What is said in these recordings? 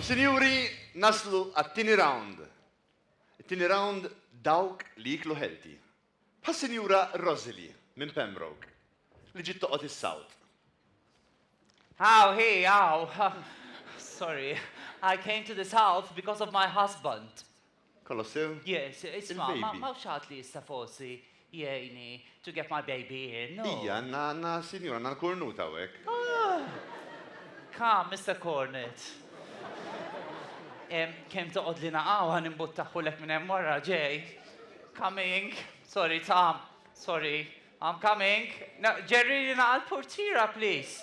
Sinjuri, naslu għat-tieni round. It-tieni round dawk li jieklu healthy. Bħas-Sinjura Rosily minn Pembroke li ġiet toqgħod is-South. Aw hi, aw. Sorry. I came to the South because of my husband. Colossier? Yes, isma', ma hawn xi ħadd li jista' forsi jgħinni to get my baby here, no? Ija, għandna, għandna, sinjur, għandna l-Kornut hawnhekk. Come, Mister Kornut. Kemm toqgħodlina hawn ħa nimbuttaħħulek minn hemm wara, ġej. Coming. Sorry, Tom. Sorry. I'm coming. Ġerrilina għall-purtiera, please.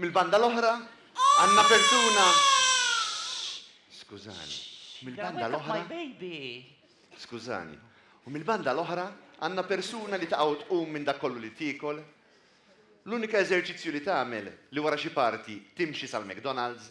Mill-banda l-oħra, għandna persuna, skużani, mill-banda l-oħra, skużani, u mill-banda l-oħra għandna persuna li taqgħu tqum minn dak kollu li tiekol. L-unika eżerċizzju li tagħmel li wara xi party timxi sal-McDonald's.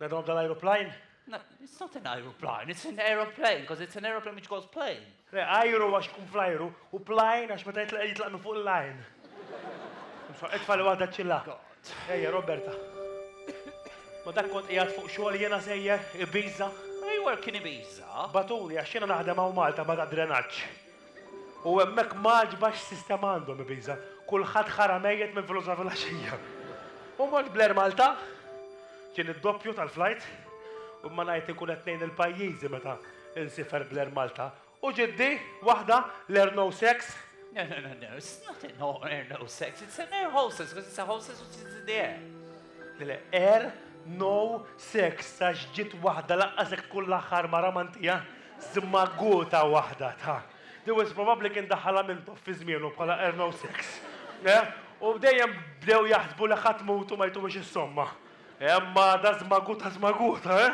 That on the aeroplane? No, it's not an aeroplane, it's an aeroplane, because it's an aeroplane which goes plane. Le, ajru għax ikun fl-ajru, u plane għax meta jitlaq jitlaq minn fuq il-lajn. Itfa li waħda ċilla. Ejja, Roberta. Ma dak kont qiegħed fuq xogħol jiena sejjer, Ibiza. Ejwa kien Ibiza. Batuli għax jiena naħdem hawn Malta ma ta' drenaġġ. U hemmhekk m'għaġbha x'sistema għandhom ibiża'. Kulħadd ħara mejjet minn filgħodu sa filgħaxija. U mort bl-Air Malta, kien id-doppju tal-flajt, u ma ngħid inkun qed ngħin il-pajjiżi meta nsifer bl-Air Malta. U ġiddi, waħda, l-Air No Sex. No, no, no, no, it's not an Air No Sex, it's an Air Hostess, because it's a hostess which is in the air. Le, le, Air No Sex, għax ġiet waħda laqqas jekk tkun l-aħħar mara m'għandija. Żmaghuta waħda ta'. Dewes probabbli kien daħħalha Mintoff fi żmienu bħala Erno Sex. Eh? U dejjem bdew jaħsbu li ħa tmut u ma jtuhiex is-somma. Eh, mada żmaghuta żmaghuta, eh?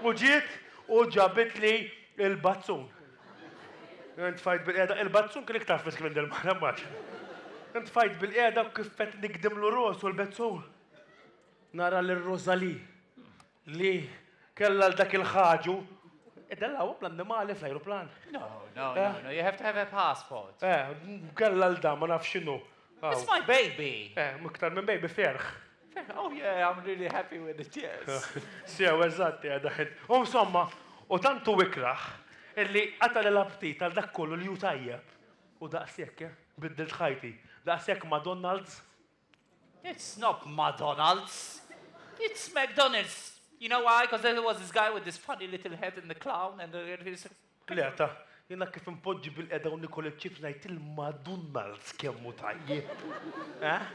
U ġiet u ġabitli l-bazzun. Intfajt bilqiegħda, il-bazzun kien iktar frisk minn dil-mara, immaġina. Intfajt bilqiegħda u kif qed nikdimlu rosu l-bezzun, nara lil Rosalie Li kellha 'l dak il-ħaġu. Iddellgħuhom l-annimali fl-ajruplan? No, no, no, no, you have to have a passport. Eh, kellha 'l dan, ma nafx x'inhu. It's my baby! Eh, iktar minn baby, ferħ. Ferħ, oh yeah, I'm really happy with it, yes. Sew, eżatt, qiegħda ħin. U insomma, u tant hu ikrah illi qatagħli l-aptit għal dak kollu li hu tajjeb. U daqshekk, eh, biddilt ħajti. Daqshekk McDonald's. It's not Madonalds. It's McDonalds. You know why? Because there was this guy with this funny little head in the clown and the... Le, ta, jena kif impoġġi bil-qeda u nikol il-chips najt il-Madonalds kemmu tajje. Eh?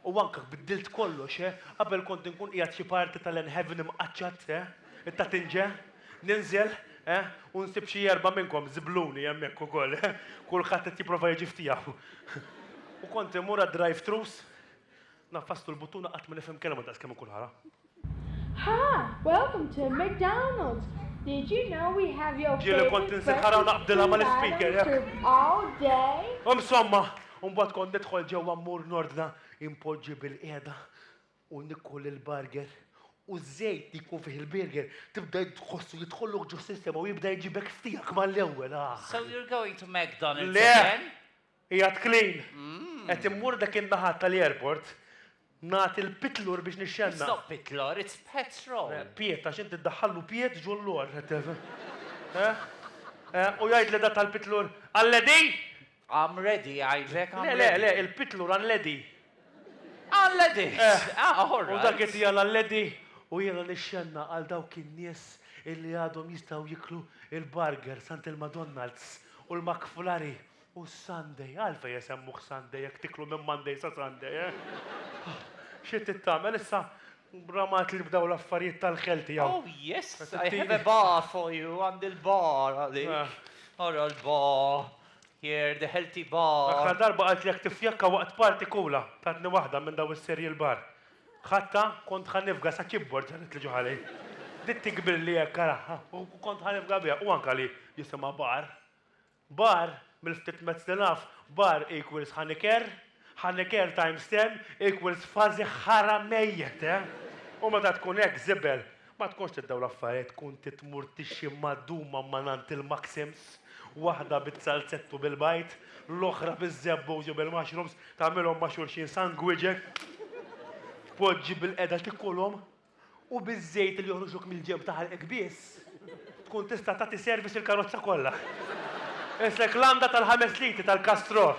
U anka biddilt kollox, eh? Qabel kont nkun qiegħed xi parti tal-enheaven imqaċċat, eh? It-tatinġe? Ninżel, eh, u nsib xi erbgħa minnkom żibluni hemmhekk ukoll, eh, kulħadd qed jipprova jiġi f'tiegħu. U kont immur għad-drive-thrus, naffastu l-buttuna qatt ma nifhem kelma daqskemm inkun ħara. Ha! Welcome to McDonald's! Did you know we have your favorite breakfast and lunch served all day? Ġieli kont insir ħara u naqbdilha mal-ispeaker hekk. Insomma, imbagħad kont nidħol ġewwa mmur nordna, inpoġġi bilqiegħda u niekol il-burger u ż-żejt li jkun fih il-burger tibda tħossu jidħollok ġo s-sistema u jibda jġibek f'tiegħek mal-ewwel aah! So you're going to McDonalds again? Le! Qiegħed clean! Qed immur dak in-naħa tal-airport nagħti l-pitlur biex nixxennaq. It's not pitlur, it's petrol! Piet, għax inti ddaħħallu piet ġo l-lor. Eħ? Eħ? U jgħidli dak tal-pitlur, Għalledin! I'm ready, għidlek I'm ready. Le, le, le, il-pitlur I'm lady. I'm lady! Ah, all right. U dak qed jegħla l-lady u jegħla lix-xenna għal dawk in-nies illi għadhom jistgħu jiklu l-burgers għand il-Madonald's u l-McFlurry u s-Sunday. Għalfejn isemmuh Sunday jekk tiklu minn Monday sa Sunday, eh? Xi trid tagħmel issa? Ramat li bdew l-affarijiet tal-Kelti hawn. Oh, yes, I have a bar for you, għandi l-bar għalik. Ara l-bar. Here the healthy bar. L-aħħar darba qaltlek tiffjakka waqt party kula, tatni waħda minn daw is-cereal bar. Ħadtha, kont ħa nifga sa keyboard ġarret li ġo ħalej. Bdiet tikbrilli hekk ara, u kont ħa nifga biha, u anke li jisimha bar. Bar, mill-ftit mezz li naf, bar equals ħa nikerr, Hanniker times ten equals fażi ħara mejjet, eh! U meta tkun hekk żibel, ma tkunx tiddaw l-affarijiet tkun titmur tixxi maduma mangħand il-Maxims, waħda biz-zalzett u bil-bajd, l-oħra biz-zebbos u bil-mushrooms, tagħmilhom ma' xulxin sangwiġe, tpoġġi bil-qeda tikulhom. u biż-żejt li joħroġlok mill-ġenb ta' ħalqek biss, tkun tista' tagħti service lill-karozza kollha. Qisek landa tal-ħames litri tal-Castrol.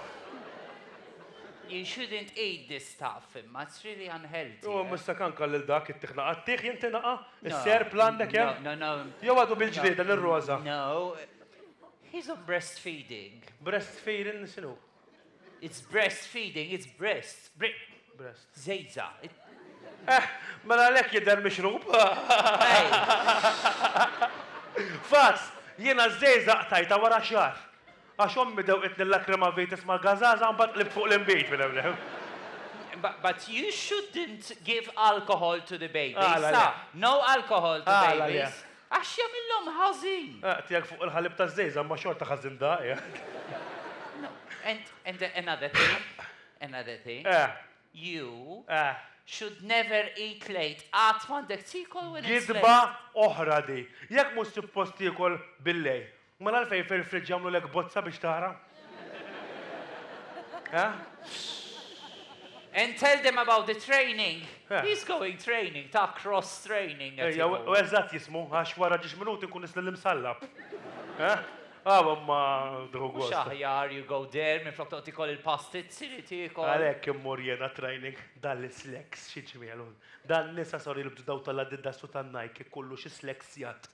You shouldn't eat this stuff, imma it's really unhealthy. Jew imissek anka lil dak ittih nagħqa. Ittih jien ti nagqa? Is-serp l-għandek hemm? No, no, no. Jew għadu bil-ġlieda lil Roża? No. He's on breastfeeding. Breastfeeding x'inhu? It's breast feeding, it's breasts. Breast. Zejza. Eh, mela lek jidher mixrub. Fas, jiena zejza qtajta wara xar. Għax ommi dew itni l-lakrima vitis ma' gazaza mbagħad qlibt fuq l-imbit minn hemm. But you shouldn't give alcohol to the babies. No alcohol to babies. Għax jagħmilhom ħażin. Ah, tiegħek fuq il-ħalib taż-żgħiżagħ imma xorta ħażin daqi. No, and, and another thing, another thing, Eh. you Eh. should never eat late. Qatt m'għandek tiekol when it's late. Gidba oħra di. Jekk mhux suppost tiekol bil-lejl, Mela għalfejn fil-fridge jagħmlulek bozza biex tara? Eħ? And tell them about the training. Yeah. He's going training, ta' cross training. Ejja, u eżat jismu, għax wara ġiġ minuti nkun nisli l-imsallab. Għaw, ma drugu. Xaħjar, you go there, minn flok toqti kol il-pastit, siri tiekol. Għalek immur jena training dal sleks xieġmielu. Dan nisa sor il-bġdaw tal-adidda su tan-najk, kullu xie sleksjat.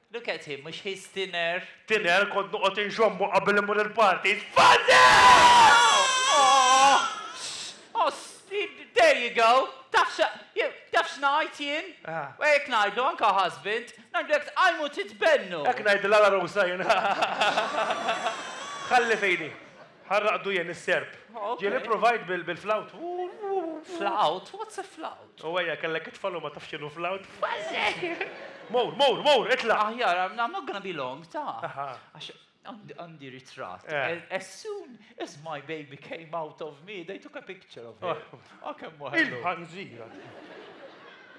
Look at him, mhux he's thinner? Thinner, kont noqgħod inxommu qabel immur il-parties. Fuzzy! Oss! There you go! Taf xa, taf x'ngħid jien? U hekk ngħidlu anke husband, ngħidlu jekk tqajmu titbennu! Hekk ngħidilha l-għarusa jien. Ħalli f'idi. Bħal raqdu jien is-serp. Jien ippruvajt bil-flawt. Flawt? What's a flawt? U ejja, kellek it-tfal u ma tafx x'inhu flawt? Mur, mur, mur, itlaq! Aħjar, I'm not gonna be long, ta. Għax għandi ritratt. As soon as my baby came out of me, they took a picture of him. O kemm hu ħelu. Il-ħanżira.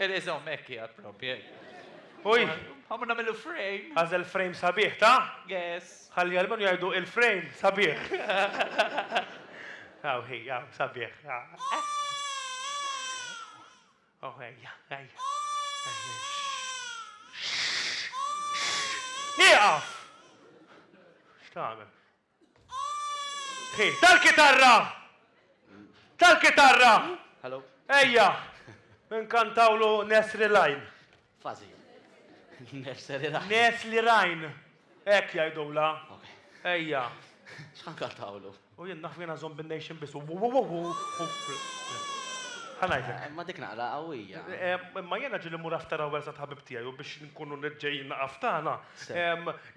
It is home, hekk hija proprju. Ħa mur nagħmillu frame. Għażel frame sabiħ, ta? Yes. Ħalli almenu jgħidu il-frame sabiħ. Hawn hi, hawn, sabiħ. Oh, ejja, ejja. Nieqaf! X'tagħmel? Hi, tal-kitarra! Tal-kitarra! Hello. Ejja, nkantawlu Nesri Lajn. Fażi. Nursery rhyme. Nursery rhyme. Hekk jgħidulha. Ejja. X'ħankantawlu? U jien naf jiena żomm bin-nation biss. Ħa ngħidlek. Ma dik naqra qawwija. Imma jiena ġieli mmur after hours għand ħabib tiegħi u biex nkunu ġejjin naqaf tagħna,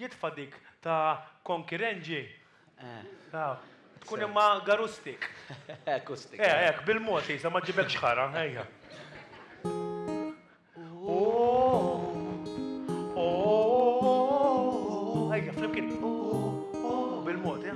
jitfa' dik ta' Konkirenji Tkun imma garustik. Acoustic. Eh, hekk, bil-mod, Isa, ma ġġibekx ħara, ejja. Ejja, flimkien. Bil-mod, ja.